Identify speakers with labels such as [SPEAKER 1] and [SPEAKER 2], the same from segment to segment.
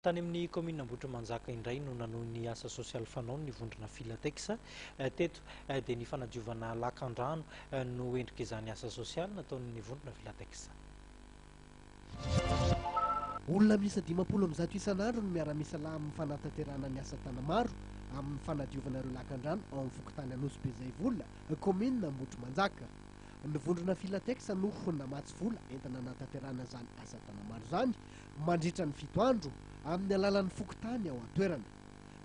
[SPEAKER 1] Tany amin'ny kaominina Ambohitrimanjaka indray no nanohy ny asa sosialy fanaony ny vondrona Filatex. Teto dia ny fanadiovana lakandrano no endrik'izany asa sosialy nataon'ny vondrona Filatex.
[SPEAKER 2] Olona miisa dimampolo amby zato isan'andro no miara-misalahy amin'ny fanatanterahana ny asa tana-maro amin'ny fanadiovana ireo lakandrano ao amin'ny fokontany Anosibe Zaivola, kaominina Ambohitrimanjaka. Ny vondrona Filatex no namatsy vola entina hanatanterahana izany asa tana-maro izany mandritra ny fito andro amin'ny alalan'ny fokontany ao an-toerana.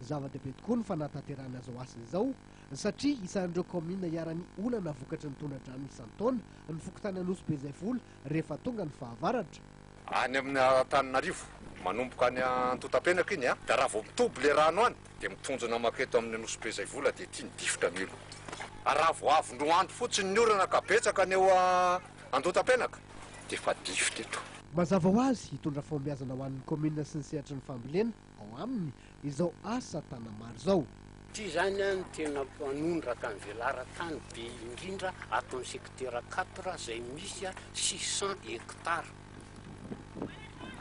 [SPEAKER 2] Zava-dehibe tokoa ny fanatanterahana izao asa izao satria isan'ireo kaominina iharan'ny olana vokatry ny tondra-drano isan-taona ny fokontany Anosibe izay vola rehefa tonga ny fahavaratra. Any amin'ny
[SPEAKER 3] Antananarivo, manomboka any Antotapenaka iny dia raha vao mitoby ilay rano any Dia mitonjo namako eto amin'ny Nosy-be izay vola dia ity ny difotra milo. Raha vao avondroa andro fotsiny ny orana ka betsaka ny eo Andotapenaka dia efa difotra eto. Mazava ho azy,
[SPEAKER 2] hitondra fahombiazana ho an'ny kaominina sy ny sehatry ny fambolena ao aminy izao asa Tanamaro izao. Ity izany
[SPEAKER 4] no tena manondraka ny velaran-tany be indrindra ato amin'ny secteur quatre izay misy six cents hectares.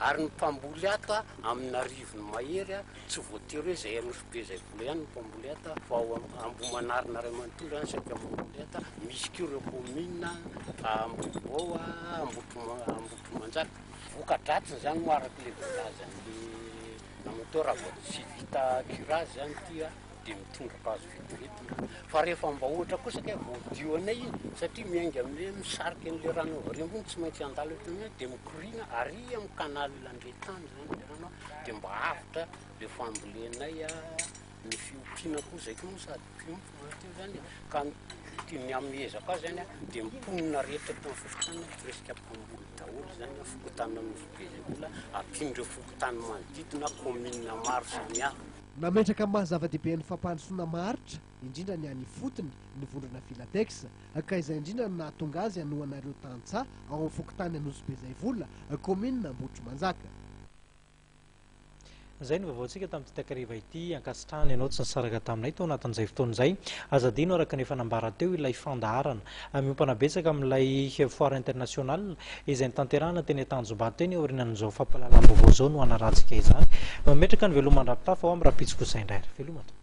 [SPEAKER 4] Ary ny mpamboly hata amin'arivony mahery tsy voatery hoe izay Anosibe izay vola ihany no mpamboly hata fa ao Ambohimanarina iray manontolo ihany saika mamboly hata, misy koa ireo kaominina Ambohibao, Ambohitrimanjaka. Voka-dratsiny izany moa araka ilay voalazan'ny Namatoa raha vao tsy vita curage izany ity dia mitondra azy vetivety ny rano. Fa rehefa mba ohatra kosa ka voadio anay iny, satria miainga amin'ilay hoe misarika an'ilay rano avy ary ambony, tsy maintsy handalo eto aminay, dia mikoriana ary amin'ny canal Andretany izany ilay rano, dia mba avotra ilay fambolenay, ny fiompiana koa izay koa moa sady mpiompy mahaty izany e, ka ny ny amin'ny ezaka ahy izany an, dia ny mponina rehetra eto amin'ny fokontany an, presque mpamboly daholo izany an, fokontany Anosibe izay mbola, ampian'ireo fokontany manodidina, commune maro samihafa. Nametraka amin'ny maha
[SPEAKER 2] zava-dehibe ny fampandrosoana maharitra, indrindra ny any ifotony, ny vondrona Filatex, ka izay indrindra no nahatonga azy hanohana ireo tantsaha ao amin'ny fokontany Anosibe Zaivola, kaominina Ambohitrimanjaka.
[SPEAKER 1] Izay no vaovaontsika tamin'ity takariva ity. Ankasitrahana ianao tsy nisaraka taminay tao anatin'izay fotoana izay. Aza adino araka ny efa nambara teo ilay fandaharana. Miompana betsaka amin'ilay Foire Internationale izay notanterahana teny Antanjombato teny aorianan'izao fampahalalam-baovao izao no hanarantsika izany. Mametraka ny veloma an-dRapitafy ao amin'ny Rampitso kosa indray ary veloma tompoko.